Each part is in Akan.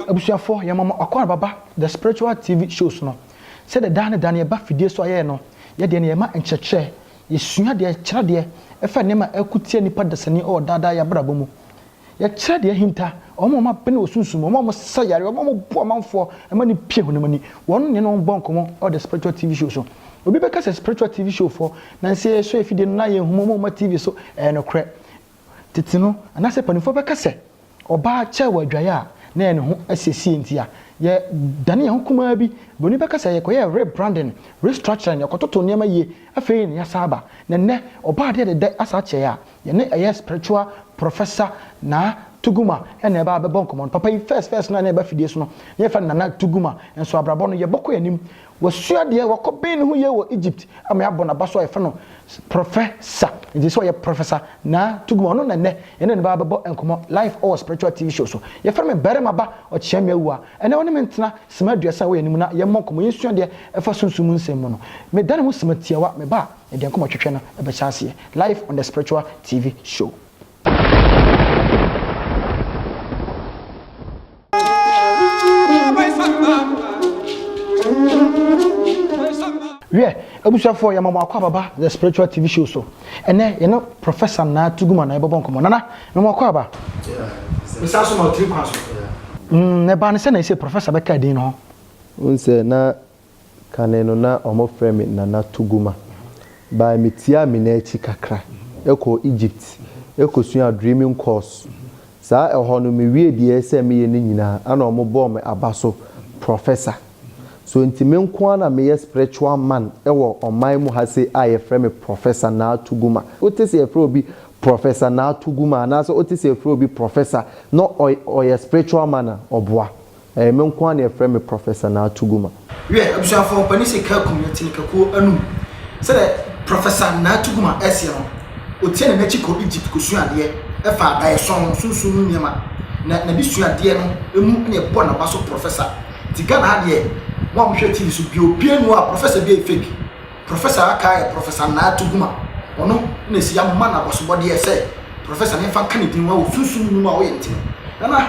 Abusuafoɔ yɛma mo akwan baba the spiritual TV shows no sɛdeɛ daa ne da no yɛba fidie so a yɛyɛ no yɛdeɛ no yɛma nkyerɛkyerɛ yɛsua deɛ kyerɛ deɛ ɛfa nneɛma a ɛko tia nipa dasani wɔ daa daa yɛ abrabɔ mu Yɛkyerɛ deɛ ahinta, wɔn a wɔabene wɔ sunsum mu, wɔn a wɔsa yare, wɔn a wɔbu amanfoɔ ma no pue honam ani. Wɔn ne yɛne wɔn bɔ nkɔmmɔ wɔ The Spiritual TV Show so. Obi bɛka sɛ Spiritual TV Show foɔ na nsɛ yɛsɔ afidie no na ayɛ nhumu mu ma TV so. Ɛyɛ nokorɛ. Tete no, anaasɛ mpanimfoɔ bɛka sɛ ɔbaa kyɛe wɔ adwaeɛ a na ɛyɛ ne ho asiesie nti a yɛdane yɛn ho kumaa bi. Buroni bɛka sɛ yɛkɔyɛɛ rebranding, restructuring, yɛkɔtotoo nneɛma yie, afei na yɛasan aba. Na nnɛ, ɔbaa deɛ dɛdɛ asa akyɛe a Yɛne ɛyɛ spiritual professor Naa Tuguma na ɛba bɛbɔ nkɔmmɔ no. Papa yi first first no a na ɛba fidie so no, na yɛfrɛ no Nana Tuguma. Nso abrabɔ no, yɛbɔ kɔ yɛn anim. Wasua deɛ, wakɔ ben ne ho yie wɔ Egypt ama yɛabɔ n'aba so a yɛfrɛ no professor. Nti sɛ ɔyɛ professor Naa Tuguma, ɔno na nnɛ yɛne no bɛba bɛbɔ nkɔmmɔ live ɔwɔ spiritual TV show so. Yɛfrɛ me Barima Ba Ɔkyeame Awuah. Ɛnnɛ ɔne me ntena sima aduasa wɔ yɛn anim na yɛmmɔ nkɔmmɔ, yɛnsua deɛ ɛfa sunsum mu nsɛm mu no. Medane ho sima tiawa, me ba a. Ɛdeɛ nkɔmɔ twetwe no ɛbɛhyɛ aseɛ live on the spiritual TV show. Wiɛ, abusuafoɔ yɛma mo akɔ ababa the spiritual TV show so. Ɛnɛ yɛne Professor Naa Tuguma na yɛbɛbɔ nkɔmɔ. Nana, mema akɔ aba. Mesan so ma wo tiri kwan so. Mm, na ɛbaa no sɛ na ɛsɛ Professor bɛka din no ho. Wohu sɛ na Kane no na wɔfrɛ me Nana Tuguma. Bae mitiaa me nan akyi kakra kɔɔ Egypt kɔsuaa Dreaming course. Saa ɛhɔ no mewiee deɛ ɛsɛ meyɛ no nyinaa ɛna wɔbɔɔ me aba so Professor. So nti me nko ara na meyɛ spiritual man wɔ ɔman mu ha sei a yɛfrɛ me Professor Naa Tuguma? Wote sɛ yɛfrɛ obi Professor Naa Tuguma anaasɛ wote sɛ yɛfrɛ obi Professor na ɔyɛ spiritual man a, ɔboa. Ɛyɛ me nko ara na wɔfrɛ me Professor Naa Tuguma. Wiɛ, abusuafoɔ, mpanin se ka akum yɛte ne kakuo anum. Sɛdeɛ Professor Naa Tuguma seɛ no, ɔtiane n'akyi kɔ Egypt kɔsua adeɛ fa adaeɛsɔn, sunsum mu nneɛma, na n'adesuadeɛ no mu na ɛbɔɔ n'aba so Professor. Nti Ghana ha deɛ, mo a mohwɛ TV so bio biara nni hɔ a Professor bi a ɛyɛ fake. Professor a aka ara yɛ Professor Naa Tuguma. Ɔno na ɛsɛ yɛama no abasobɔdeɛ sɛ Professor na yɛmfa nka ne din, wɔ sunsum nnwuma a ɔyɛ ntini. Nana!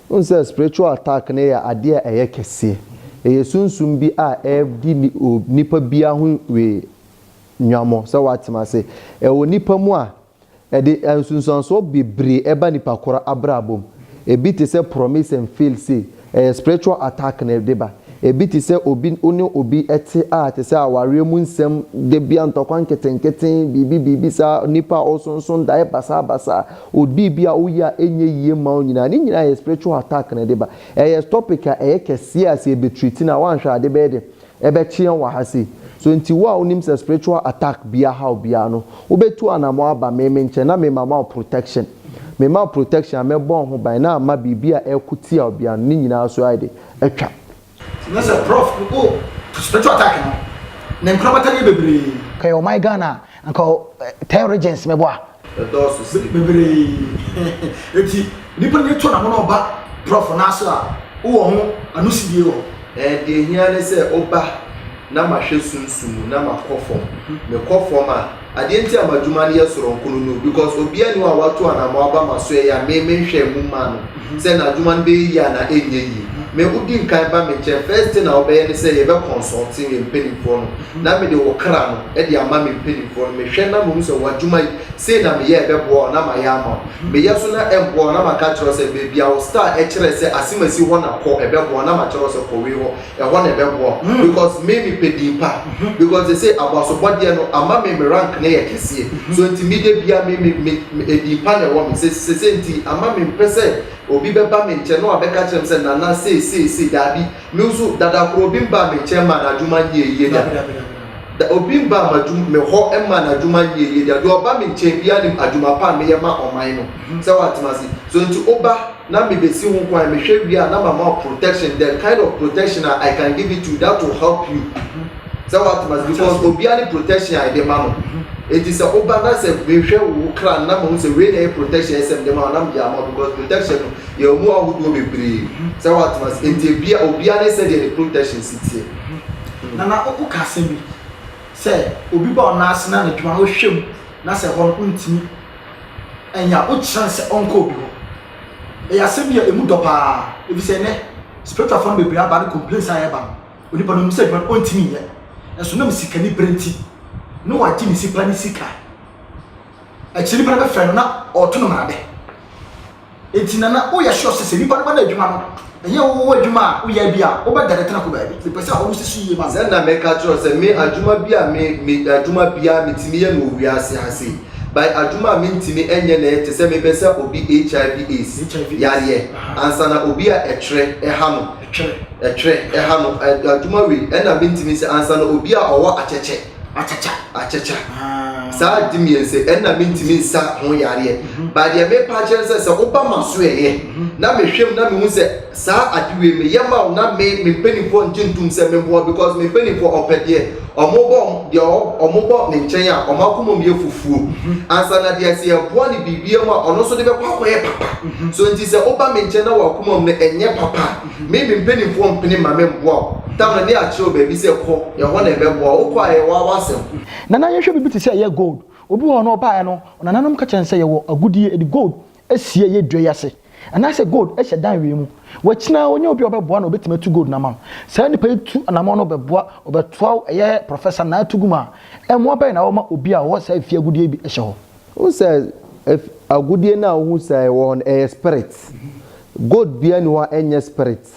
Wohu sɛ spiritual attack no yɛ adeɛ a ɛyɛ kɛseɛ. Ɛyɛ sunsum bi a ɛredi ni o nipa biara ho we nwammɔ sɛ woate m'ase. Ɛwɔ nipa mu a, ɛde nsunsuansoɔ bebree ɛba nipa korɔ abrabɔ mu. Ɛbi te sɛ promise and fail sei, ɛyɛ spiritual attack na ɛde ba. Ɛbi te sɛ obi wo ne obi te a te sɛ awareɛ mu nsɛm, da biara ntɔkwa nketenkete, biribi biribi saa, nipa a ɔsonson daeɛ basaa basaa, Odi bi a woyɛ a ɛnyɛ yie mma wo nyinaa, ne nyinaa yɛ spiritual attack na ɛde ba. Ɛyɛ topic a ɛyɛ kɛseɛ a sɛ yɛbɛ treat no a woanhwɛ a ade bɛyɛ den. Ɛbɛkyeɛ wɔ ha sei. So nti wo a wonim sɛ spiritual attack bi ahaw biara no, wobɛtu anamɔn aba me me nkyɛn na me ma ma wo protection. Me ma wo protection a mɛbɔ wo ho ban na ama biribi a ɛreko tia wo biara no, ne nyinaa so ayɛ den, atwa. Ti na sɛ prof no oh spiritual attack no ne nkorabata yɛ bebree. Kaya ɔman Ghana anka ten regions mɛbɔ a. Ɛdɔɔso sɛ bebree eti nipa ni to na mo na ɔba prof no aso a wowɔ ho anosidie wɔ. Ɛɛ deɛ hia ne sɛ woba na mahwɛ sunsum mu na makɔ fam mekɔ fam a. Adeɛ nti a m'adwuma no yɛ soronko no no because obiara nni hɔ a watu anamɔ aba m'asoɛeɛ a me menhwɛɛ mu mmaa no sɛ n'adwuma no bɛyɛ yie anaa ɛnyɛ yie. Me wodi nkan ba me nkyɛn first thing a wobɛyɛ ne sɛ yɛbɛ consult yɛn mpanimfoɔ no na mede wo kra no de ama me mpanimfoɔ no mehwɛ na mahu sɛ w'adwuma yi sei na meyɛ a ɛbɛboa wo na mayɛ ama wo. Meyɛ so na ɛmmoa wo na maka akyerɛ wo sɛ baabi a wo star kyerɛ sɛ asem asi hɔ na kɔ ɛbɛboa wo na makyerɛ wo sɛ kɔ wei hɔ Ɛhɔ na ɛbɛboa wo because me mepɛ din pa because te sɛ aboasobɔdeɛ no ama me me rank no yɛ kɛseɛ so nti me da bia me me me me din pa na ɛwɔ me sɛ sɛ sɛ nti ama me mpɛ sɛ obi bɛba me nkyɛn na wabɛka kyerɛ me sɛ nana sei sei sei daabi me nso dada koro obi mbaa me nkyɛn mmaa n'adwuma nyɛ yie da da obi mbaa m'adwuma me hɔ mmaa n'adwuma nyɛ yie da deɛ ɔba me nkyɛn biara nim adwuma pa a meyɛ ma ɔman no sɛ wate m'ase so nti oba na me besi ho kwan me hwɛ wie a na ma ma wo protection the kind of protection a I can give it to that will help you sɛ wa tuma because obia ne protection a ɛde ma no eti sɛ wo ba na sɛ me hwɛ wo wo kra na ma hu sɛ wei na ɛyɛ protection ɛsɛ me de ma wo na me de ama because protection no yɛ ɔmo ahodoɔ bebree sɛ wa tuma sɛ eti ebia obia ne sɛ deɛ ne protection si teɛ. Hmm. Nana wo ka asɛm bi sɛ obi ba ɔnaase na ne dwuma no wohwɛ mu na sɛ hɔ no ntumi. anya wo kyerɛ no sɛ ɔnkɔ obi hɔ. Ɛyɛ asɛm bi a ɛmu dɔ paa ɛfisɛ ɛnɛ spiritual fɔ no bebree aba ne complaints a ɛba no onipa no nim sɛ adwuma no ɔntimi nyɛ nso nam sikani berɛ nti ne wagye ne sipa ne sika akyiri nipa no bɛfrɛ no na ɔto no mmarade. Enti Nana wo yɛ sure sɛ sɛ nipa no bɛda adwuma no ɛnyɛ wo wo adwuma a wo yɛ bi a wo bɛ dane tena ko baabi me pɛ sɛ ɔno sisi yie ma me. Sɛ na me ka kyerɛ wo sɛ me adwuma bi a me me adwuma biara me tumi yɛ no wɔ wiase ha sei by adwuma a me ntumi nyɛ na yɛ te sɛ me bɛ sɛ obi HIV aids yareɛ ansa na obi a ɛtwerɛ ɛha no ɛtwerɛ ɛha no adwuma wei ɛna me ntumi sɛ ansa na obi a ɔwɔ akyɛkyɛ akyakya akyakya saa ade mmiɛnsa ɛnna mentumi nsa ho yareɛ mhm. ba deɛ mepa akyerɛ sɛ sɛ woba ma so ɛyɛ mhm. na mehwɛm na mehu sɛ saa ade wei meyɛ ma wo na me me mpanimfoɔ ngye ntom sɛ memboa because me mpanimfoɔ ɔpɛ deɛ ɔmobɔ deɛ ɔmobɔ ne nkyɛn a ɔmo akoma mu yɛ fufuo mhm. ansa na deɛ sɛ yɛboa ne biribia mu a ɔno nso de bɛkɔ akɔyɛ papa so nti sɛ woba me nkyɛn na wakoma mu no ɛnyɛ papa Me me mpanimfoɔ mpene mma me mmoa wo. Tamale de akyerɛ wo baabi sɛ kɔ, ɛhɔ na ɛbɛboa wo. Wokɔ a ɛyɛ w'awa asɛm. Nana yɛnhwɛ biribi te sɛ ɛyɛ gold. Obi wɔ hɔ no ɔbaeɛ no nananom ka kyerɛ no sɛ yɛwɔ agudeɛ de gold asie ɛyɛ dua yi ase anaasɛ gold hyɛ dan wei mu. Wakyina ara ɔnya obi a ɔbɛboa no a ɔbɛtumi atu gold no ama no. Saa nipa yi tu anammɔn no ɔbɛboa ɔbɛtoa wo ɛyɛ Professor Naa Tuguma a mmoa bɛn na wɔma obi a ɔwɔ saa efie agudeɛ yi bi hyɛ hɔ? Wohu sɛ agudeɛ no a wohu sɛ ɛwɔ hɔ no, ɛyɛ spirit. Gold biara nni hɔ a ɛnyɛ spirit.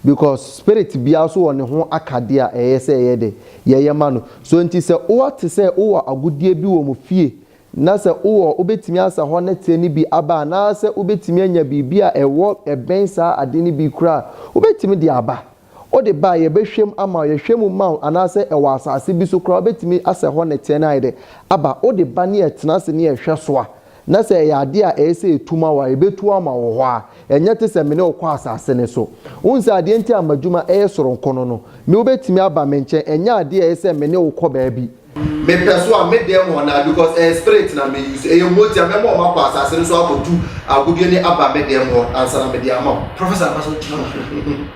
Because spirit biara nso wɔ ne ho akadeɛ a ɛyɛ sɛ yɛyɛ dɛ, yɛyɛ ma no. So nti sɛ wote sɛ wowɔ agudeɛ bi wɔ mo fie na sɛ wowɔ, wobɛtumi asa hɔ na teɛ no bi aba anaasɛ wobɛtumi anya biribi a ɛwɔ, ɛbɛn saa adeɛ no bi koraa a, wobɛtumi de aba. Wode ba a, yɛbɛhwɛ mu ama wo. Yɛhwɛ mu ma wo anaasɛ ɛwɔ asase bi so koraa a, wobɛtumi asɛ hɔ nnɛteɛ no ayɛ dɛ aba. Wode ba ne yɛtena ase ne yɛhwɛ so a, na sɛ ɛyɛ adeɛ a ɛyɛ sɛ ɛtu ma wo a, yɛbɛtu ama wo hɔ ara. Ɛnyɛ te sɛ me ne wo kɔ asase no so. Wohu sɛ adeɛ nti a m'adwuma yɛ soronko no no, me wobɛtumi aba me nkyɛn. Ɛnyɛ adeɛ a ɛyɛ sɛ me ne wo kɔ baabi. Me pɛ so a me dɛm wɔn a because ɛyɛ spirit na me use ɛyɛ mogya mɛma wɔn akɔ asase no so akɔ tu agudeɛ ne aba me dɛm wɔn ansa na me de ama wɔn. Professor mpa so gyina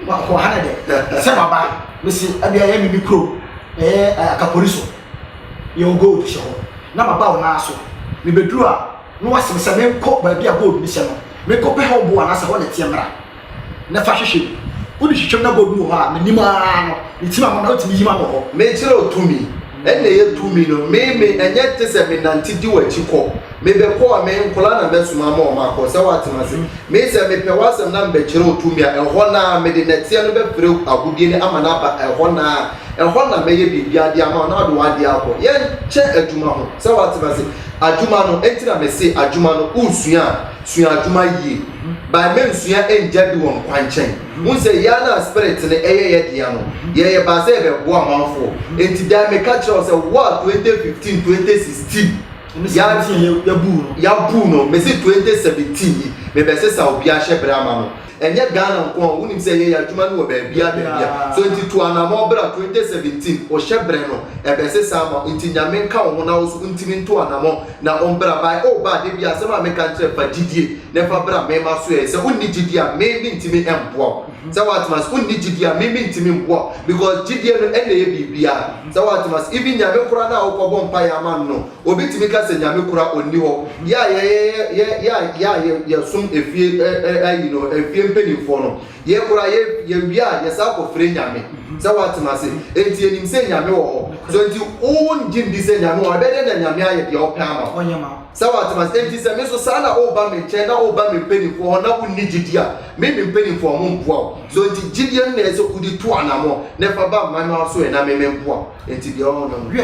ma wɔn ha na dɛ sɛ ma ba me se ɛbi ɛyɛ me me kuro ɛyɛ eh, akapori so yɛ wɔn gold hyɛ hɔ na ma ba wɔn nan so me bɛ duru a na wɔasem sɛ me nkɔ baabi a gold ne hyɛ no me nkɔ pɛ hɔ boa na sɛ hɔ na ɛteɛ mmra. na fa hwehwɛ mu. Wo de twitwam na bɔ bi wɔ hɔ a me nim aa no me ti ma mo na wo tumi yi ma mo hɔ. Me kyerɛ wo tumi ɛna ɛyɛ tumi no me me ɛnyɛ te sɛ me nante di wakyi kɔ me bɛ kɔ a me nkoraa na bɛ soma ama ɔmo akɔ sɛ wate ma se me sɛ me pɛ wasɛm na me bɛ kyerɛ wo tumi a ɛhɔ na me de nɛteɛ no bɛ pere agodie no ama no aba ɛhɔ na ɛhɔ na mɛ yɛ biribiaa de ama wo na wode wadeɛ akɔ yɛ kyɛ adwuma ho sɛ wate ma se adwuma no enti na me se adwuma no wo sua a. sua adwuma yie by ma nsua ngya di wɔn kwankyɛn wohu sɛ yɛa no a spirit no ɛyɛ yɛ dea no yɛyɛ ba sɛ yɛbɛboa amanfoɔ nti dan meka kyerɛ wo sɛ wo a 2015 2016 ya yabuu no mese 2017 yi mebɛsesa obi ahyɛ berɛ ama no Ɛnyɛ Ghana nko a, wonim sɛ yɛyɛ adwuma no wɔ baabiara baabiara. So nti tu anamɔn bra 2017 wo hyɛ brɛ no ɛbɛsesa ama wo nti Nyame nka wo ho na wo so wontimi nto anamɔn na ombra by oh ba da biara asɛm a meka nkyerɛ fa gyidie na fa bra me masoɛɛ sɛ wonni gyidie a me mentimi mboa wo sɛ woatem ase wonni gyidie a me mentimi mboa wo because gyidie no ɛna ɛyɛ biribiara sɛ woatem ase even Nyame koraa no a wokɔ bɔ mpaeɛ ama no no Obi tumi ka sɛ Nyame kora ɔnni hɔ. Yɛ a yɛ a yɛ som efie ayi no efie mpaninfoɔ no yɛ kora yɛ yɛ wie a yɛ saa kɔ fire Nyame sɛ watem ase enti yɛ nim sɛ Nyame wɔ hɔ so enti wo wo ngye ndi sɛ Nyame wɔ hɔ ɛbɛyɛ dɛn na Nyame ayɛ deɛ ɔpɛ ama wo sɛ watem ase enti sɛ me so saa na wo ba me nkyɛn na wo ba me mpaninfoɔ hɔ na wo nni gyidie a me me mpaninfoɔ ɔmo mboa wo so enti gyidie no na ɛsɛ wode tu anamɔ na ɛfa ba mma no aso ɛ na me me mboa wo enti deɛ ɔhɔ no no.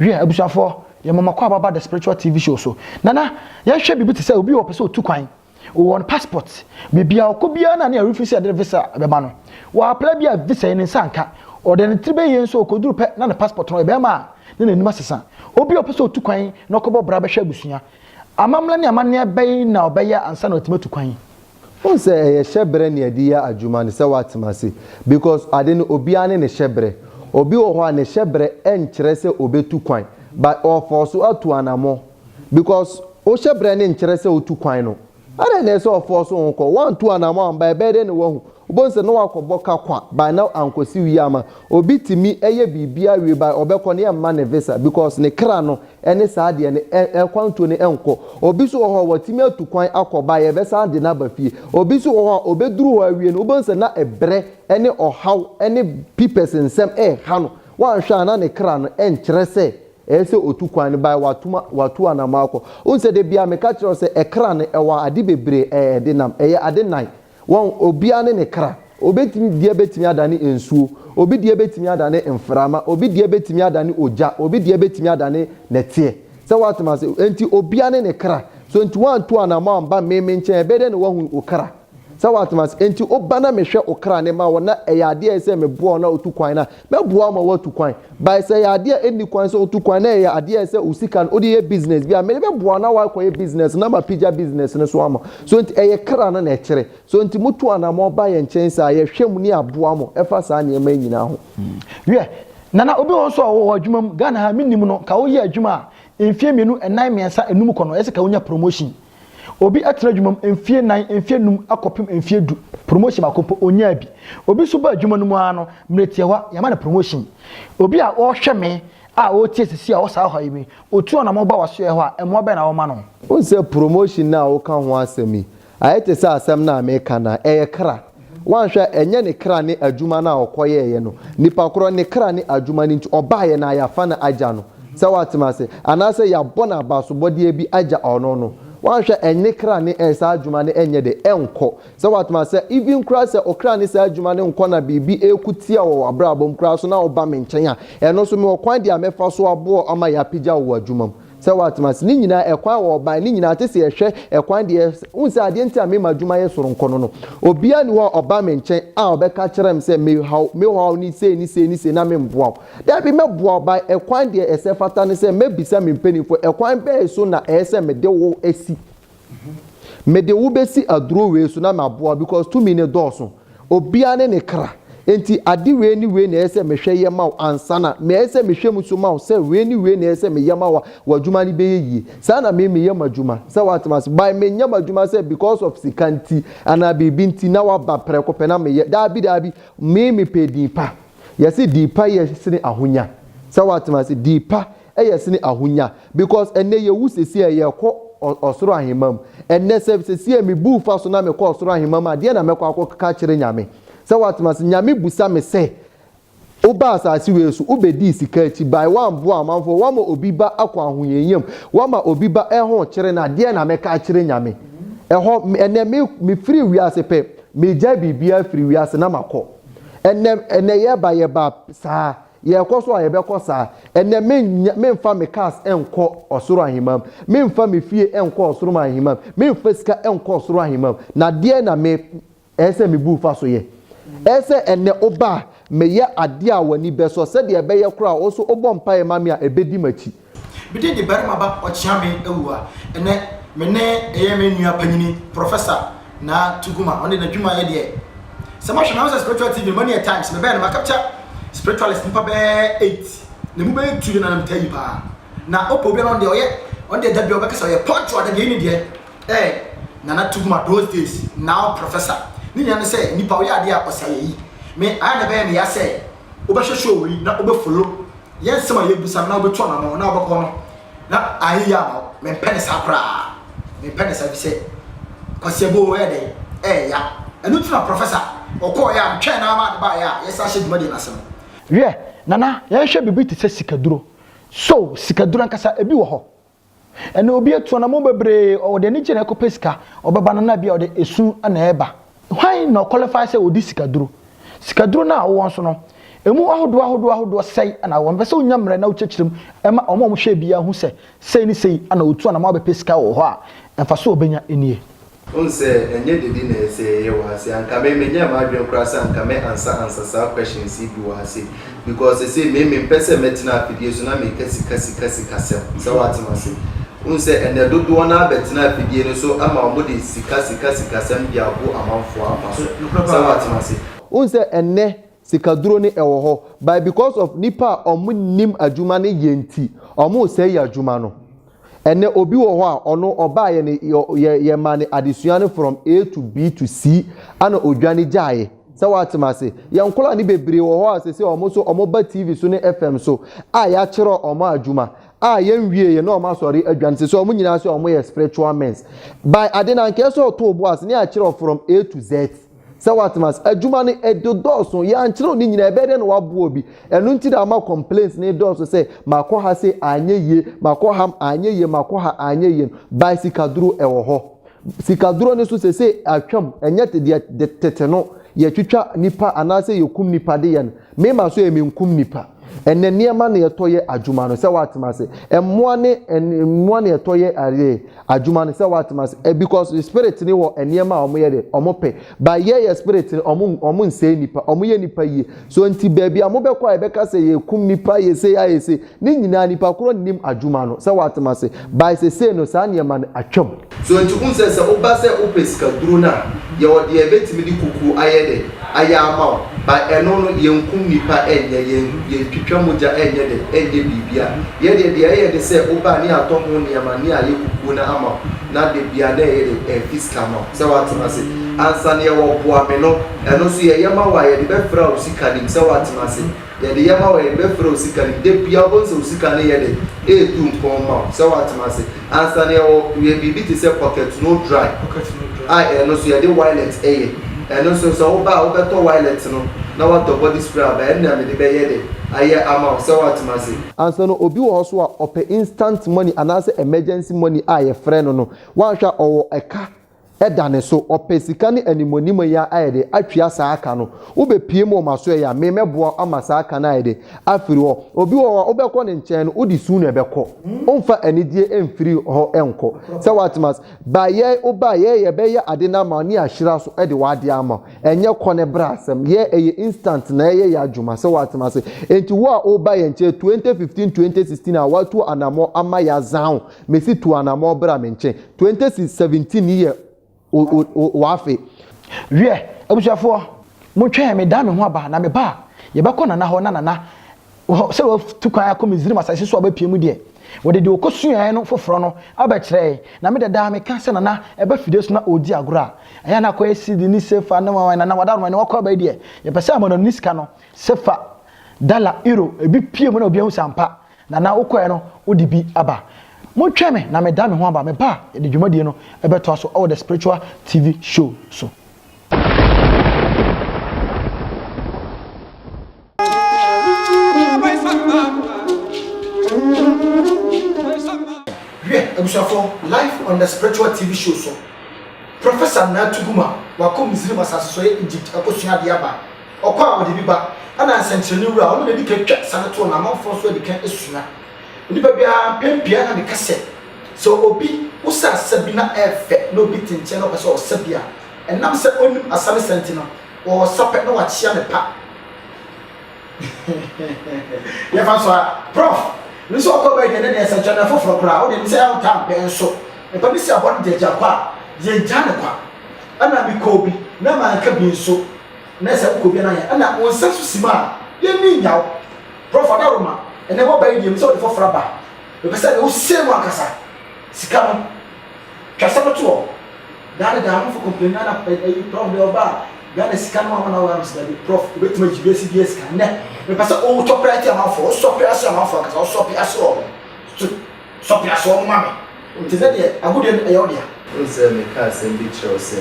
Hwɛ, abusuafoɔ, yɛn mama kɔ ababa the spiritual TV show so. Nana, yɛhwɛ biribi te sɛ obi wɔ pɛ sɛ otu kwan. Wɔn passport, biribi a ɔkɔ biara na ne ɛrefi sɛ ɛde visa bɛma no. Wɔapla bi a visa yɛ ne nsa nka. Ɔde ne tiri bɛyɛ nso ɔkɔduru pɛ na ne passport no ɔyɛ bɛrima a na n'anim asesa. Obi a ɔpɛ sɛ otu kwan na ɔkɔbɔ bra bɛhwɛ abusua. Amammerɛ ne amanneɛ bɛn na ɔbɛyɛ ansa na watumi atu kwan? Wohu sɛ ɛyɛ hyɛbrɛ ne yɛde yɛ adwuma ne sɛ woatena ase because ade no obiara ne ne hyɛbrɛ. Obi wɔ hɔ a ne hyɛbrɛ nkyerɛ sɛ obetu kwan but ɔɔfɔɔso atu anamɔ because wo hyɛbrɛ no nkyerɛ sɛ wotu kwan no. Adɛn na ɛsɛ sɛ ɔfɔɔ so ho kɔ? Wantu anamɔ amba, ɛbɛyɛ dɛn na wahu? Wobɛhu sɛ na wakɔbɔ ka kwa by na ankɔsi wie ama. Obi tumi yɛ biribiara wie by ɔbɛkɔ no yɛmma no visa because ne kra no ne saa deɛ no ɛkwantuo no nkɔ. Obi nso wɔ hɔ a watumi atu kwan akɔ by yɛbɛsan de no aba fie. Obi nso wɔ hɔ a ɔbɛduru hɔ awie no wobɛhu sɛ na ɛbrɛ ne ɔhaw ne pipɛs nsɛm ɛreha no. Wanhwɛ a na ne kra no ɛnkyerɛ sɛ Ɛyɛ sɛ otu kwan no bae, watu ma watu anamɔ akɔ. Wohu sɛ da biara meka kyerɛ wo sɛ ɛkra no ɛwɔ ade bebree ɛɛ ɛde nam, ɛyɛ ade nnan. Wɔn obiara ne ne kra. Obi deɛ bɛtumi adane nsuo, obi deɛ bɛtumi adane mframa, obi deɛ bɛtumi adane ogya, obi deɛ bɛtumi adane nɛteɛ. Sɛ woate m'ase? Enti obiara ne ne kra. So enti woantu anamɔ amba me me nkyɛn a, ɛbɛyɛ dɛn na woahu wo kra? Sɛ woatem ase. Enti woba na mehwɛ wo kra na mema wo na ɛyɛ adeɛ a ɛyɛ sɛ meboa wo na wotu kwan no a, mɛboa wo ma woatu kwan. But sɛ ɛyɛ adeɛ a ɛnni kwan sɛ wotu kwan na ɛyɛ adeɛ a ɛyɛ sɛ wo sika no wode yɛ business bi a, mede bɛboa wo na woakɔyɛ business no na mapagya business no so ama wo. So enti ɛyɛ kra no na ɛkyerɛ. So enti motu anammɔn ba yɛn nkyɛn saa a, yɛhwɛ mu na yɛaboa mo ɛfa saa nneɛma yi nyinaa ho. Wiɛ, Nana, obi wɔ hɔ nso a ɔwɔ adwuma mu, Ghana ha a mennim no, nka woyɛ adwuma a mfeɛ mmienu, nnan, mmiɛnsa, nnum kɔ no, ɛyɛ sɛ nka wonya promotion. Obi atena adwuma mu mfeɛ nnan, mfeɛ nnum akɔpem mfeɛ du, promotion baako mpo ɔnyaa bi. Obi nso ba adwuma no mu ara no, mmerɛ tiawa yɛama no promotion. Obi a ɔrehwɛ me a ɔretie sisi a ɔwɔ saa ɔhaw yi mu yi, ɔtu anamɔ ba w'asoɛeɛ hɔ a, mmoa bɛn na woma no? Wohu sɛ promotion no a woka ho asɛm yi, ayɛ te sɛ asɛm no a mereka no ara, ɛyɛ kra. Woanhwɛ a, ɛnyɛ ne kra ne adwuma no a ɔkɔyɛeɛ no. Nipa korɔ, ne kra ne adwuma no nti, ɔbaeɛ na yɛafa no agya no. Sɛ woate me ase? Anaasɛ yɛabɔ no abasobɔdeɛ bi agya ɔno no. Woanhwɛ a, ɛnne kra ne ɛ, saa adwuma no ɛnyɛ dɛ, ɛnkɔ. Sɛ woate me ase? Even koraa sɛ ɔkra ne saa adwuma no nkɔ na biribi reko tia wɔ w'abrabɔ mu koraa so na woba me nkyɛn a, ɛno nso mewɔ kwan deɛ a mɛfa so aboa wo ama yɛapagya wo wɔ adwuma mu. Sɛ watena ase ne nyinaa, ɛkwan a wɔbae ne nyinaa te sɛ yɛhwɛ ɛkwan deɛ wohu sɛ adeɛ nti a mema adwuma yɛ soronko no no. Obiara ni hɔ a ɔba me nkyɛn a ɔbɛka kyerɛ me sɛ mehaw mehaw ne sei ne sei ne sei na memboa wo. Dabi mɛboa wo by ɛkwan deɛ ɛsɛ fata ne sɛ mɛbisa me mpaninfoɔ ɛkwan bɛn so na ɛyɛ sɛ mede wo si. Mede wo bɛsi aduro wei so na maboa wo because tumi no dɔɔso. Obiara ne ne kra. Enti ade wei ne wei na ɛyɛ sɛ mehwɛ yɛ ma wo ansa na ɛyɛ sɛ mehwɛ mu nso ma wo sɛ wei ne wei na ɛyɛ sɛ meyɛ ma wo a w'adwuma no bɛyɛ yie. Saa na me meyɛ m'adwuma. Sɛ woate m'ase? By menyɛ m'adwuma sɛ because of sika nti anaa biribi nti na woaba prɛko pɛ na meyɛ. Daabi daabi. Me mepɛ din pa. Wɔse din pa yɛ sene ahonya. Sɛ woate m'ase? Din pa Ɛyɛ sene ahonya because ɛnɛ yɛwu sesie a yɛkɔ ɔsoro ahemma mu ɛnɛ sɛ sesie me bu fa so na mekɔ ɔsoro ahemma mu a deɛ na mɛkɔ akɔ ka kyerɛ nyame sɛ watem ase nyame busa me sɛ woba asase wei so wobɛdii sika akyi bae woamboa amanfoɔ woama obi ba akɔ ahohiahia mu woama obi ba ɛho kyere no a deɛ na mɛka akyerɛ nyame ɛhɔ ɛnɛ me mefiri wiase pɛ megya biribiara firi wiase na makɔ ɛnɛ ɛnɛ yɛba yɛba saa Yɛkɔ so a, yɛbɛkɔ saa. Ɛnnɛ, mennya, memfa me cars nkɔ ɔsoro ahemman, memfa me fie nkɔ ɔsoro ahemman, memfa sika nkɔ ɔsoro ahemman. Na deɛn na me, ɛyɛ sɛ mebu fa so yɛ? Ɛyɛ sɛ ɛnnɛ woba a, meyɛ adeɛ a w'ani bɛsɔ, sɛdeɛ ɛbɛyɛ koraa a, wo nso wobɔ mpaeɛ ma me a, ɛbɛdi m'akyi. Me din de Barima Ba Ɔkyeame Awu a ɛnɛ me ne ɛyɛ me nua panyini Professor Naa Tuguma ɔno deɛ n'adwuma yɛ deɛ sɛ mo ahwɛ na sɛ spiritual TV no mo ani yɛ times me bɛɛ no ma capture spiritualist nipa bɛɛ eight na emu bɛyɛ two deɛ na nam taa yi paa na ɔpɛ obi a na ɔno deɛ ɔyɛ ɔno deɛ da bi ɔbɛka sɛ ɔyɛ pɔnkye ɔda deɛ ne deɛ ɛɛ Nana Tuguma those days now Professor ne nyinaa ne sɛ nipa ɔyɛ adeɛ a ɔsɛ ayɛ yi me ayɛ na ɛbɛyɛ me ya sɛ wobɛhwɛ show yi na wobɛ follow yɛ nsɛm a yɛbisa no na wobɛtu anamɔ no na wobɛkɔ no na ayɛ yie ama wo mempɛ ne saa koraa mempɛ ne saa bi sɛ kwasiabo ɛyɛ dɛn ɛyɛ ya ɛno ti na prɔfɛsa ɔkɔɔ yɛ a metwɛn naa maa de baa yɛ a yɛsa ahyɛ dwumadie no ase no. Hwɛ, Nana, yɛnhwɛ biribi te sɛ sikaduro. So sikaduro ankasa, ebi wɔ hɔ? Ɛna obi atu anammɔn bebree, ɔde anigye na ɛkɔpɛ sika, ɔbɛba no na ebia ɔde esu na ɛreba. Hwan na ɔkɔlifai sɛ ɔdi sikaduro? Sikaduro no a wowɔ nso no, ɛmu ahodoɔ ahodoɔ ahodoɔ sɛn na wowɔ? Mepɛ sɛ wonya mmerɛ na wokyerɛkyerɛ mu ma wɔn a wɔhwɛ biara hu sɛ sei ne sei na ɔtu anammɔn abɛpɛ sika wɔ hɔ a, mfasoɔ a ɔbɛnya nie. Wohu sɛ ɛnyɛ dede na ɛsɛ sɛ yɛyɛ wɔ ase. Anka me menyɛɛ m'adwene koraa sɛ anka mɛ ansa ansa saa questions yi bi wɔ ase. Because sesei me me mpɛ sɛ mɛtena afidie so na meka sika sika sika sɛm. Sɛ wate me ase. Wohu sɛ ɛnɛ dodoɔ no ara bɛtena afidie no so ama wɔn de sika sika sika sɛm de abo amanfoɔ akwa so. Sɛ wate me ase. Wohu sɛ ɛnɛ Sika duro no ɛwɔ hɔ but because of nipa a ɔmo nnim adwuma no yɛ nti ɔmo sɛe yɛ adwuma no. Ɛnɛ obi wɔ hɔ a ɔno ɔbaayɛ no yɛ yɛ maa no adesua no from A to B to C ɛna odwane gyaeɛ. Sɛ w'ate m'ase? Yɛ nkɔlaa no bebree wɔ hɔ a sɛsɛ ɔmo nso ɔmo ba TV so ne FM so a y'akyerɛ ɔmo adwuma a yɛ nwie yɛ na ɔmo asɔre adwane sɛsɛ ɔmo nyinaa sɛ ɔmo yɛ spiritual mens by ade no anka ɛsɛ ɔtoo bo ase na y'akyerɛ from A to Z. Sɛ woatem ase. Adwuma no ɛde dɔɔso, yɛankyerɛw ne nyinaa, ɛbɛyɛ dɛn na woaboa obi? Ɛno nti na ama complaints no redɔɔso sɛ, makɔ ha sei anyɛ yie, makɔ ha anyɛ yie, makɔ ha anyɛ yie no. By sikaduro ɛwɔ hɔ. Sikaduro no nso seesei atwam, ɛnyɛ te deɛ tete no yɛtwitwa nnipa anaasɛ yɛkum nnipa de yɛ no. Mema so yɛ menkum nipa. Ɛnɛ nneɛma na yɛtɔ yɛ adwuma no sɛ watem ase. Mmoa ne mmoa na yɛtɔ yɛ adeɛ adwuma no sɛ watem ase. Eh, because the spirit ne wɔ nneɛma a wɔn yɛ de wɔn pɛ. But yɛ yɛ spirit no wɔn wɔn nsɛe nipa. Wɔn yɛ nipa yie. So nti baabi a wɔn bɛkɔ a yɛbɛka sɛ yɛkum nipa yɛ se ayɛ se. Ne nyinaa nipa korɔ nnim adwuma no sɛ watem ase by sesei no saa nneɛma no atwam. So nti wohu sɛ sɛ woba sɛ wopɛ sika duro no a yɛwɔ deɛ yɛbɛtumi de kukuo ayɛ dɛ ayɛ ama wo but ɛno no yɛnkum nipa ɛnyɛ yɛn yɛntwitwa mogya ɛnyɛ dɛ ɛnyɛ biribia yɛ deɛ deɛ ɛyɛ ne sɛ woba a ne yɛatɔ ho nneɛma ne ayɛ kukuo no ama wo na da biaa na ɛyɛ dɛ ɛfi sika ma wo sɛ watem ase ansa ne yɛwɔ boa me no ɛno nso yɛyɛ ma wo a yɛde bɛfra wo sika nim sɛ watem ase. Yɛde yɛ ma wo a yɛbɛfrɛ wo sika no da biara wobɛhu sɛ wo sika no yɛ dɛn ɛretu mpɔn ma wo sɛ woatena ase ansa no yɛwɔ yɛ biribi te sɛ pocket no dry a ɛno nso yɛde wilet ɛyɛ ɛno nso sɛ woba a wobɛtɔ wilet no na woatɔ body spray aba ɛno na mede bɛyɛ dɛ ayɛ ama wo sɛ woatena ase. Ansa no obi wɔ hɔ nso a ɔpɛ instant money anaasɛ emergency money a yɛfrɛ no no woanhwɛ a ɔwɔ ɛka da ne so, ɔpɛ sika ne animuanim yi a ayɛ de atwea saa ka no. Wobɛpie mu wɔ m'asoɛ yi a, me mɛboa wo ama saa ka no ayɛ de afiri hɔ. Obi wɔ hɔ a wobɛkɔ ne nkyɛn no, wode su na ɛbɛkɔ. Womfa anigyeɛ mfiri hɔ nkɔ. Sɛ woatem ase? Ba yɛn, woba a, yɛn yɛbɛyɛ ade no ama wo ne ahyira so de w'adeɛ ama wo. Ɛnyɛ kɔ ne bra asɛm. Yɛn, ɛyɛ instant na ɛyɛ yɛn adwuma. Sɛ woatem ase? Enti wo a woreba yɛn nkyɛn 2015, 2016 a, woatu anamɔ ama yɛazan wo. Mesi tu anamɔ bra me nkyen. Twenty si seventeen yi yɛ w'afe. Wiɛ, abusuafoɔ, mo twɛn me dan me ho aba, na me ba a, yɛbɛkɔ Nana hɔ, na Nana, wɔ sɛ watu kwan akɔ Misrim asase so a wabɛpue mu deɛ, wɔde deɛ ɔkɔsuaeɛ no foforɔ no abɛkyerɛ yɛn, na me dadaa meka sɛ Nana ɛba fidie so na ɔredi agorɔ a, ɛyɛ a na akɔyɛ CD ne Sefa ne wawan, Nana w'adaworoma ɛnɛ wakɔ aba yi deɛ, yɛpɛ sɛ yɛma no ne sika no, Sefa, Dala, Euro, ebi pue mu na obiara hu sɛ ampa, Nana wokɔɛ no wode bi aba. Montwɛn me na meda me ho aba, meba a yɛde dwumadie no bɛtoa so wɔ The Spiritual TV Show so. Hwɛ abusuafoɔ live on The Spiritual TV Show so, Professor Nana Tuguma wakɔ Misrim asase so yɛ Egypt akɔsua adeɛ aba. Ɔkɔ a wɔde bi ba, ɛna nsɛnkyerɛnne wura a ɔno na edi kan twa sane toɔ na amanfoɔ nso adi kan sua. Onipa biara, mpɛn pii ara na meka sɛ, sɛ obi wosa asa bi na ɛyɛ fɛ na obi te nkyɛn na ɔpɛ sɛ ɔsa bi a, ɛnam sɛ onnim asa ne sa nti no, ɔresa pɛ na wakyea ne pa. Yɛmfa nso a, Prof. Me nso ɔkɔ bɛyɛ deɛ ne deɛ nsɛnkyerɛnne foforɔ koraa, wo deɛ me sɛ ɛho taa mpɛn nso. Mepɛ me si abɔ no gyagya kɔ a, deɛ gyaa ne kwa. Ɛna mekɔɔ bi na manka bi nso, Nɛ sɛ wokɔ obia na yɛ na wo nsa so sim a yɛnni nya wo Prof Adaroma ɛnɛ waba yi deɛ mepɛ sɛ wode fɔforɔ aba mepɛ sɛ nɛ wosee mu ankasa sika no twa sɛ no toɔ daa ne daa amafo complain na ɛyi Prof deɛ ɔba a Ghana sika no wama na wama sɛ dabi Prof obɛtumi agye wiase bia sika nɛ mepɛ sɛ wotɔ prɛte amafo wosɔ prɛase amafo ankasa wosɔ prɛase wɔ mo so Sɔ peasoɔ no ma me. Nti sɛ deɛ agudeɛ no ɛyɛ wo dea. Wohu sɛ mekaa asɛm bi kyerɛ wo sɛ,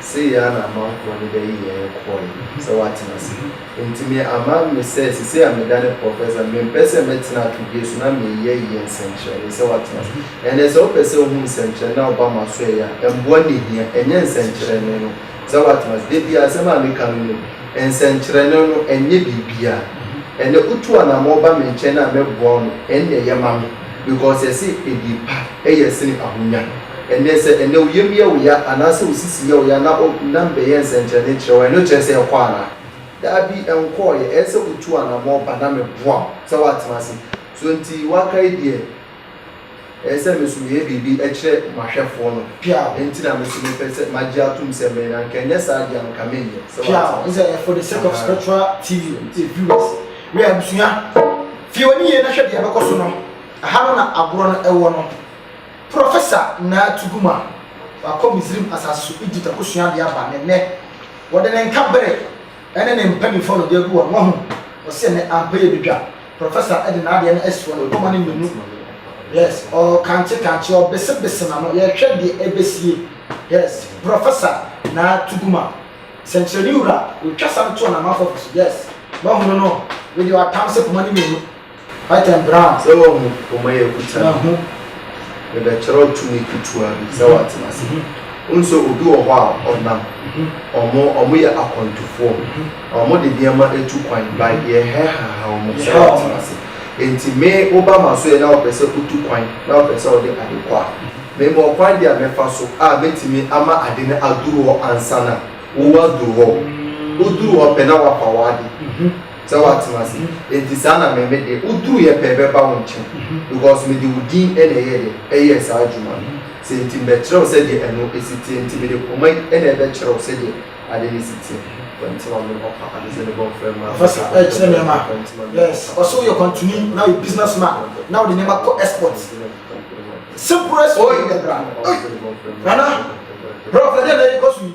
sei ara na amanfoɔ no bɛyi yɛn kɔɔe sɛ woatena ase. Nti me ama me sɛ sesei a medane Professor, mempɛ sɛ mɛtena atodie so na meyɛ yɛ nsɛnkyerɛnee sɛ woatena ase. Ɛnneɛ sɛ wopɛ sɛ wohu nsɛnkyerɛnee na woba m'asoɛeɛ a, mmoa na ɛhia, ɛnyɛ nsɛnkyerɛnee no. sɛ woate ase. Da biara asɛm a meka no no, nsɛnkyerɛnne no, ɛnyɛ biribiara. Ɛnnɛ wotu anammɔn ba me nkyɛn a mɛboa wo no, ɛnna ɛyɛ ma me because yɛse adie pa yɛ sene ahonya. Ɛnnɛ sɛ ɛnnɛ wo yam yɛ wo ya anaasɛ wo sisi yɛ wo ya na o na mebɛyɛ nsɛnkyerɛnne kyerɛ wo a, ɛno kyerɛ sɛ ɛkɔ anaa? Daabi, ɛnkɔeɛ. Ɛyɛ sɛ wotu anammɔn ba na meboa wo. Sɛ woate ase. So nti woakae deɛ. Ɛyɛ sɛ me nso meyɛ biribi kyerɛ m'ahwɛfoɔ no. Piaw, Enti na me nso mepɛ sɛ magye atom sɛ mmɛn, anka ɛnyɛ saa deɛ anka menyɛ. Sɛ wate? Piaw, Ɛne sɛ for the sake of spiritual TV viewers, wei abusua, fie w'ani yie na hwɛ deɛ ɛbɛkɔ so no, ɛha no na agorɔ no ɛwɔ no. Professor Naa Tuguma, wakɔ Misrim asase so, Egypt, akɔsua adeɛ aba, na ɛnnɛ, wɔde ne nka bere. ɛne ne mpanimfoɔ no de agu wɔn ho, ɔse ɛnnɛ ampa yɛ badwa, professor de n'adeɛ no asi wɔn mpoma no mmienu, yes, ɔɔkante kante, ɔɔbese bese n'ano, yɛrehwɛ deɛ ɛbɛsie, yes, professor Naa Tuguma, sɛnkyerɛnne wura, ɔretwa sane toɔ na amanfoɔ fa so, yes, moahunu no, wei deɛ watam se poma no mmienu. Hyten Brown. Sɛ wahu poma yi akuta no. Mahu. Mebɛkyerɛw tumi ketewa bi sɛ wɔatena ase. Wohu sɛ obi wɔ hɔ a ɔnam. Wɔn, wɔyɛ akwantufoɔ. Na wɔde nneɛma atu kwan, but yɛhɛhaha wɔn sɛ Yɛhaw wɔn. wɔatena ase. Enti me, woba m'asoɛe na wopɛ sɛ wotu kwan, na wopɛ sɛ wode ade kɔ a, mewɔ ɔkwan bi a mɛfa so a mɛtumi ama ade no aduru hɔ ansa na wo woaduru hɔ. Woduru hɔ pɛ na woafa w'ade. sɛ woatena ase enti saa na me me de woduruiɛ pɛɛ bɛba wo nkyɛn because mede wo din na ɛyɛɛ dɛ ɛyɛɛ saa adwuma no sɛ enti mebɛkyerɛ wo sɛdeɛ ɛno si teɛ enti mede koma yi na ɛbɛkyerɛ wo sɛdeɛ ade no si teɛ. Kwantima me ɔfa ade sɛ ne bɔnfrɛ mmaa Ɔfa sɛ ɛkyerɛ nneɛma yes ɔsɛ woyɛ kwantuni na woyɛ business man na wode nneɛma kɔ export simplest way ɛbra ei nana brɛ ɔfa deɛ na ɛkɔ so yi.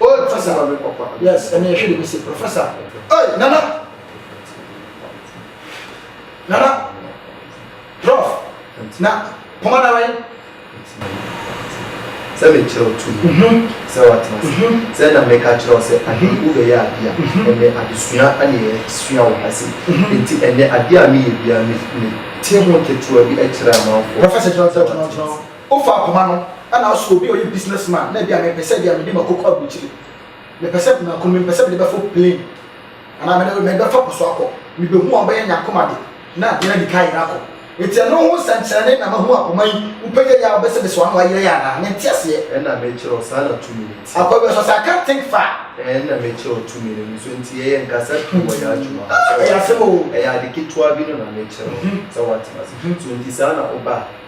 Oh, Professor. Yes, and you should be say Professor. Hey, Nana. Nana. Prof. Na, come on, right? sɛ mekyerɛ wo tumi mhm. sɛ watena se mhm. sɛ na meka kyerɛ wo sɛ ahemfo bɛyɛ adeɛ a mhm. ɛnɛ adesua ane ɛsua wo ha se nti ɛnɛ adeɛ a meyɛ bia me te ho ketewa bi kyerɛ amanfoɔ Ofa akoma no na ɔso obi a ɔyɛ business man na ebia mepɛ sɛ ebia mede makoko aburukyire mepɛ sɛ mako no mepɛ sɛ mede bɛfo plane anaa mede mede bɛfa po so akɔ mebehu a ɔbɛyɛ nya akoma de na adeɛ no adi kan ayera akɔ nti ɛno ho nsɛnkyerɛnne na mahu akoma yi wopɛgya yɛ a wobɛsɛ bɛsɛ wano ayera yɛ anaa mente aseɛ. Ɛna mekyerɛ wo saa na tumi no teɛ. Akɔ bia ɔsɛ ɔsɛ I can't think far. Ɛna mekyerɛ wo tumi no nso nti yɛyɛ nkasa pii wɔ yɛ adwuma ho sɛ wate ɛyɛ ade ketewa bi no na mekyerɛ wo sɛ wate mase so nti saa na woba a.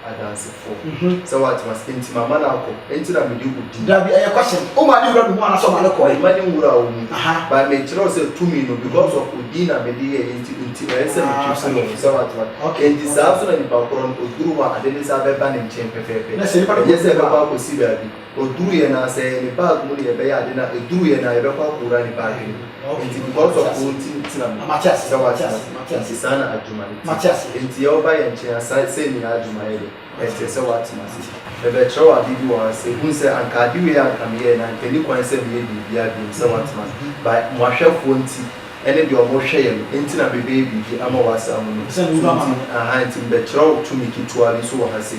Adansefo. Mhm. Sɛ w'atem ase. Enti mama no akɔ. Enti na mede wo di. Dabi, ɛyɛ question. Wo maa ne wura no mu anaa sɛ ɔmaa no kɔe? Mema ne wura wo mu. Aha. But me kyerɛ wo sɛ tumi no because of odin na mede yɛɛ yɛ nti nti ɛyɛ sɛ me keep no ho. Sɛ w'atem ase. Ah, okay. Enti saa nso na nipa korɔ no, oduru hɔ a ade ne saa bɛba ne nkyɛn pɛpɛɛpɛ. Na sɛ nipa no kɔ Ɛnyɛ sɛ ɛbɛkɔ akɔsi baabi. Ɔduru yɛn a sɛ ɛyɛ ne bag mu na yɛbɛyɛ ade no a ɛduru yɛn a yɛbɛkɔ akɔwura ne bag no mu nti because of wo nti ntena mu sɛ woatena ase nti saa na adwuma no te nti yɛ woba yɛn nkyɛn a saa sei ne yɛn adwuma yɛ dɛ ɛnkyerɛ sɛ woatena ase mebɛkyerɛ wo ade bi wɔ ha sɛ hunu sɛ anka ade wei a anka meyɛɛ no anka ɛni kwan sɛ meyɛ biribiara biom sɛ woatena ase by mo ahwɛfoɔ nti ɛne deɛ ɔmo hwɛ yɛn nti na mebɛyɛ biribi ama wo asɛ amonom so nti ahaa nti mebɛkyerɛ wo tumi ketewa bi nso wɔ ha sɛ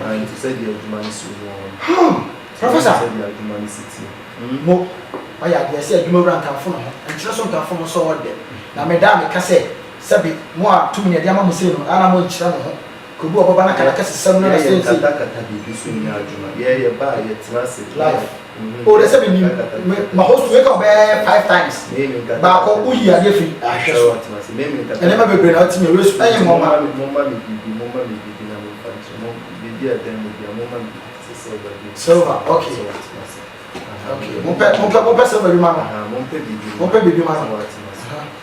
Ɛnte sɛ deɛ adwuma no si wɔ hɔ no. Huh! Professor! Ɛnte sɛ deɛ adwuma no si teɛ. Mmo, ɔyɛ adeɛ sɛ adwumawura nkamfo ne ho, nkyerɛ so nkamfo no sɛ ɔɔdɛ. Na me da a meka sɛ, Sɛbe, mo a tumi na yɛde ama mo sei no, a na monkyerɛ mo ho, kɔbu ɔbɔba no akadakɛsesɛm no na sɛnsei. Yɛyɛ nkatakata biribi so nyɛ adwuma. Yɛyɛ ba a, yɛtena ase. Life. o ne sɛ menim me ma hɔ so yɛka ɔbɛyɛ five times baako woyi adeɛ fi ahwɛ so ɛne ma bebree na ɔte me resu ɛyɛ nwoma silver ok ok mompɛ mompɛ mompɛ silver bi ma no mompɛ biribi ma no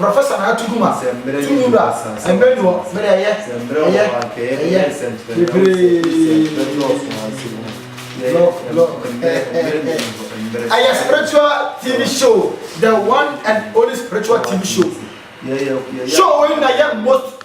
Professor na ato gum a to mu do a mbrɛ ni wɔ mɛ dɛ ɛyɛ ɛyɛ ɛyɛ bebree ɛyɛ spiritual TV show the one and only spiritual TV show show wei na yɛ most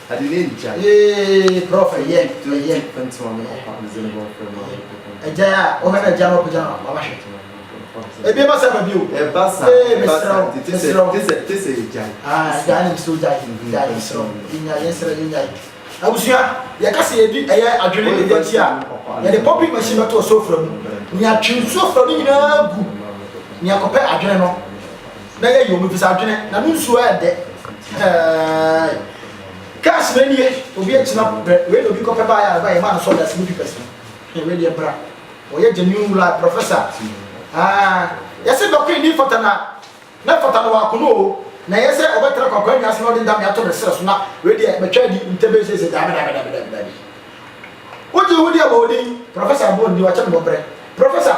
Ade no nngya yee prɔf ɛyɛ nto yɛ nto ame papa agya a ɔhɛ no agya no ɔpagya no mama hwɛ ebi ba sa ba bio ɛba sa ɛba sa nti te sɛ te sɛ te sɛ agya ah agya ne nso agya agya yɛ nsrɛ yɛ nya yɛ nsrɛ yɛ nya abusua yɛ kasa yɛ di ɛyɛ adwene ne yɛ ti a yɛ de pɔpi machine bɛto ɔsofra mu nea twe nsuo fra no nyinaa gu nea kɔpɛ adwene no na yɛyɛ omi bisa adwene na no nsuo ayɛ dɛ hɛɛɛɛ cars na nie obi agyina brɛ wei na obi kɔpɛ baa yɛ areba yɛ maa no sɔda sini pipɛs no hwɛ wei deɛ bra wɔyɛ genuine wura professor aa yɛsɛ dɔko ni fata na na fata na wakono o na yɛ sɛ ɔbɛtena kwakwa nnwa ase na ɔde dame ato ne serɛ so na wei deɛ bɛtwa adi ntɛbɛ sese dame dame dame dame dame wogye ho deɛ bɔɔdin professor bɔɔdin wakyɛ no bɔbrɛ professor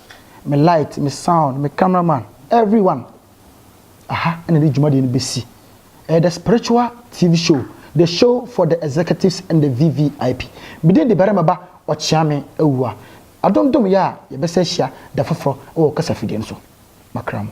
me light, me sound, me camera man, every one aha na ɛde dwumadie no bɛsi. Ɛyɛ the spiritual TV show, the show for the executives and the VVIP. Medin de barima ba ɔkyeame awua. Adom dom yɛ a yɛbɛsɛ ahyia da foforɔ wɔ kasafidie no so. Makra mo.